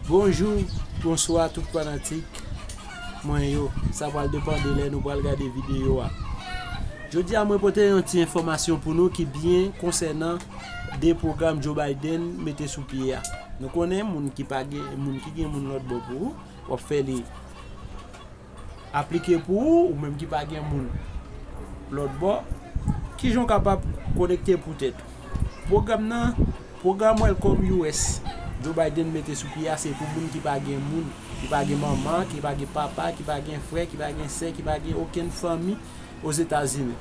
Bonjou bonswa tout fanatik mwen yo sa pral depan de lè nou pral gade videyo a jodi a mwen pote yon ti enfòmasyon pou nou ki byen konsènan de pwogram Joe Biden mete sou pye a nou konnen moun ki pa gen moun ki gen moun lòt bò pou ou wap fè li Aplike pou ou, ou menm ki pa gen moun lòtbò. Kijan ou kapab konekte pou tèt ou? Pwogram nan, pwogram Welcome US Joe Biden mete sou pye a se pou moun ki pa gen moun, ki pa gen manman, ki pa gen papa, ki pa gen frè, ki pa gen sè, ki pa gen okenn fanmi Ozetazini.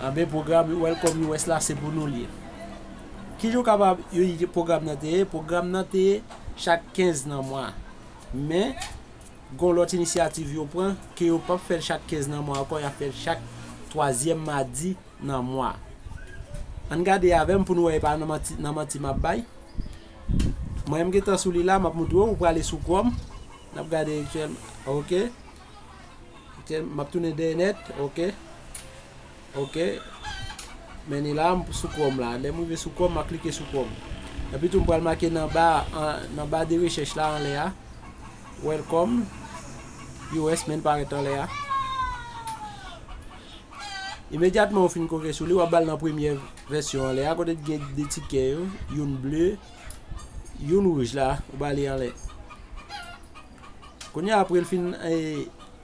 Anben, pwogram Welcome US la se pou nou li ye. Kijan ou kapab pwogram nan te ye? Pwogram nan te ye chak 15 nan mwa. Men. Gon lòt inisyativ yo pran ke yo pap fèl chak 15 nan mwa ankò yap fèl chak twazyèm madi nan mwa. Ann gade avèm poun wè epa nan manti map bay. Mwen m gentan sou li la map moutre w ou prale sou chrome nap gade ok map tounen dèyè nèt ok. Ok Men ni la m sou chrome la lèm rive sou chrome ma klike sou chrome epi tou m pral make nan ba nan ba de rechèch la anlè a welcome us menn parèt anlè a imedyatman ou fin koke sou li wap bal nan premye vèsyon anlè a kote gen de tikè yo youn ble youn rouj la ou bali anlè Kounye a apre l fin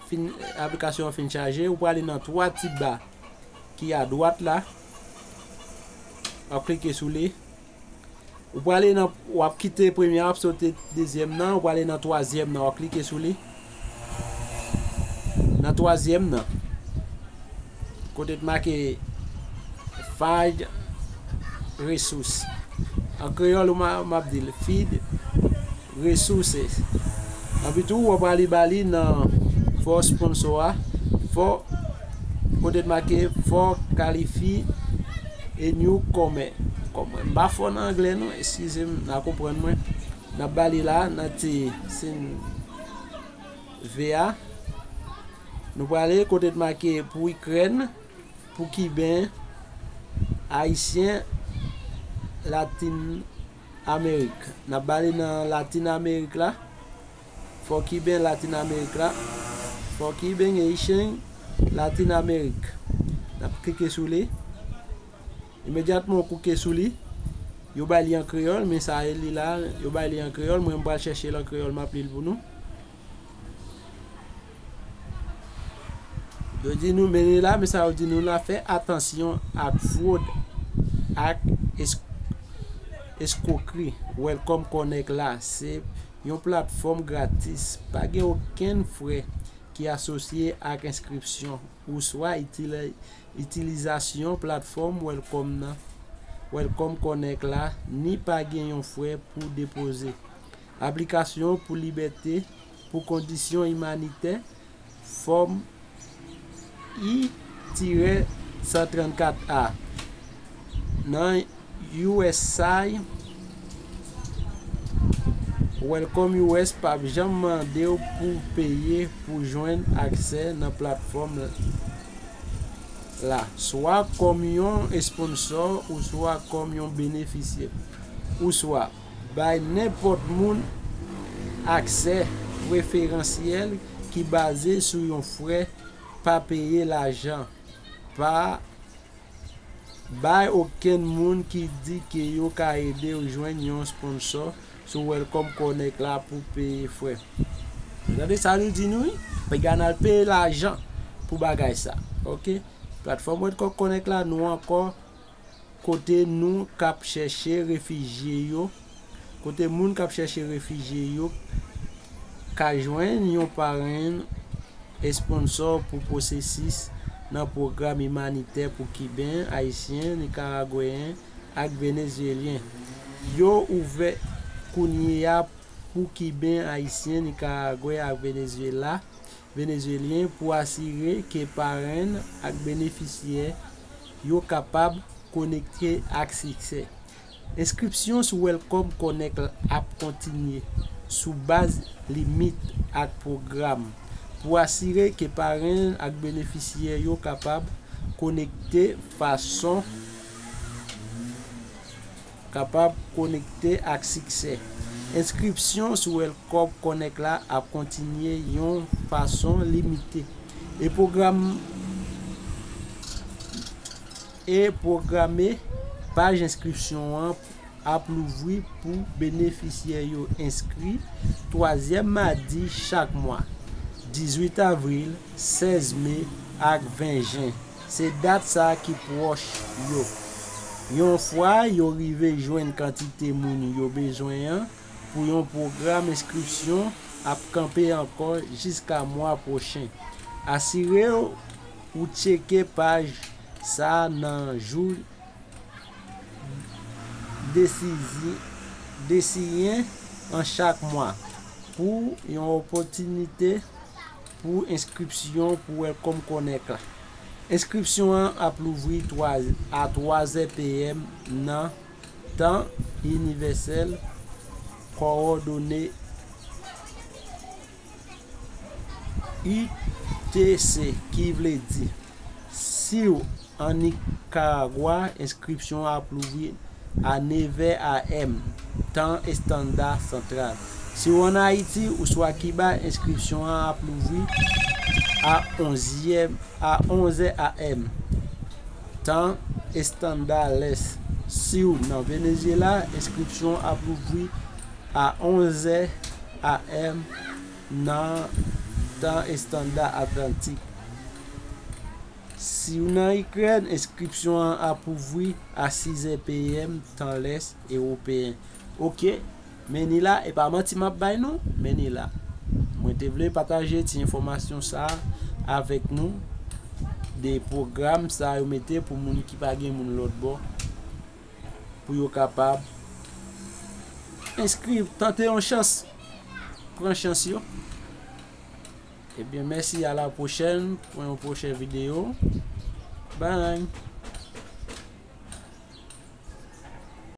fin aplikasyon an fin chaje ou prale nan 3 ti ba ki adwat la wap klike sou li ou prale nan wap kite premye wap sote dezyèm nan ou prale nan twazyèm nan wap klike sou li nan twazyèm nan kote t make find resource an kreyòl map dil feed resources anpi tou wap ale ba li nan for sponsor a for kote t make for kalifi e new kòmè m pa fò nan anglè non eskize m nan konprann mwen nap ba li la nan ti sin V a nou prale kote t make pou ikrèn pou kiben ayisyen latin. Amerik. Nap bale nan latin amerik la fò kiben latin amerik la fò kiben gen icheng latin amerik nap klike sou li imedyatman ou kouke sou li yo bay li an kreyòl men sa e li la yo bay li an kreyòl mwen m pral chèche l an kreyòl map li l pou nou. Yo di nou mele la, men sa yo di nou la fè atansyon ak fwod ak eskwokri. Welcome Connect la se yon platfòm gratis, pa gen okenn frè ki asosye ak enskripsyon oswa itilizasyon platfòm Welcome Connect la ni pa gen yon frè pou depoze. Aplikasyon pou libète pou kondisyon imanitè, Fòm I-134 a, nan usaid Welcome US p ap janm mande w pou w peye pou w jwenn aksè nan platfòm la, swa kòm yon esponnsò ouswa kòm yon benefisyè, ouswa. Bay nenpòt moun aksè preferansyèl ki baze sou yon frè pa peye lajan. Pa bay okenn moun ki di ke yo ka ede w jwenn yon sponsò sou Welcome Connect la pou peye frè. Ou tande sa nou di nou wi? Pa gen al peye lajan pou bagay sa. Ok. Platfòm Welcome Connect la nou ankò. Kote nou kap chèche refijye yo Kote moun kap chèche refijye yo ka jwenn yon parenn, esponsò, pou pwosesis nan pwogram imanitè pou Kiben, Ayisyen, Nikaragweyen ak Venezyelyen. Yo ouvè kounye a pou Kiben, Ayisyen, Nikaragwe ak Venezyela. Venezyelyen pou asire ke parenn ak benefisyè yo kapab konekte ak siksè. Enskripsyon sou Welcome Connect la ap kontinye sou baz limit ak pwogram pou asire ke parenn ak benefisyè yo kapab konekte fason kapab konekte ak siksè. Enskripsyon sou Elcorb Connect la ap kontinye yon fason limite, e pwogram e pwograme paj enskripsyon an ap louvri pou benefisyè yo enskri twazyèm madi chak mwa, 18 avril, 16 me, ak 20 jen. Se dat sa ki pwòch yo. Yon fwa yo rive jwenn kantite moun yo bezwen an pou yon pwogram enskripsyon ap kanpe ankò jiska mwa pwochen. Asire w ou tcheke paj sa nan jou desiyen an chak mwa pou yon opòtinite. Pou enskripsyon pou Welcome Connect la. Enskripsyon an ap louvri a 3 zè PM nan Tan Inivèsèl Kowòdone UTC, ki vle di. Siw an Nikaragwa, enskripsyon an ap louvri a 9 vè AM, tan estanda santral. Si w an Ayiti ouswa Kiba, enskripsyon an ap louvri a 11 zè AM, tan estanda lès. Siw nan Venezyela, enskripsyon an ap louvri a 11 zè AM, Nan tan estanda Atlantik. Si w nan Ikrèn, enskripsyon an ap ouvri a 6 zè PM tan lès ewopeyen. Ok, men ni la, e pa manti m ap bay nou, men ni la. Mwen te vle pataje ti enfòmasyon sa a avèk nou de pwogram sa yo mete pou moun ki pa gen moun lòtbò. pou yo kapab enskri tante yon chans pran chans yo ebyen mèsi a la pwochèn pou yon pwochè video bany.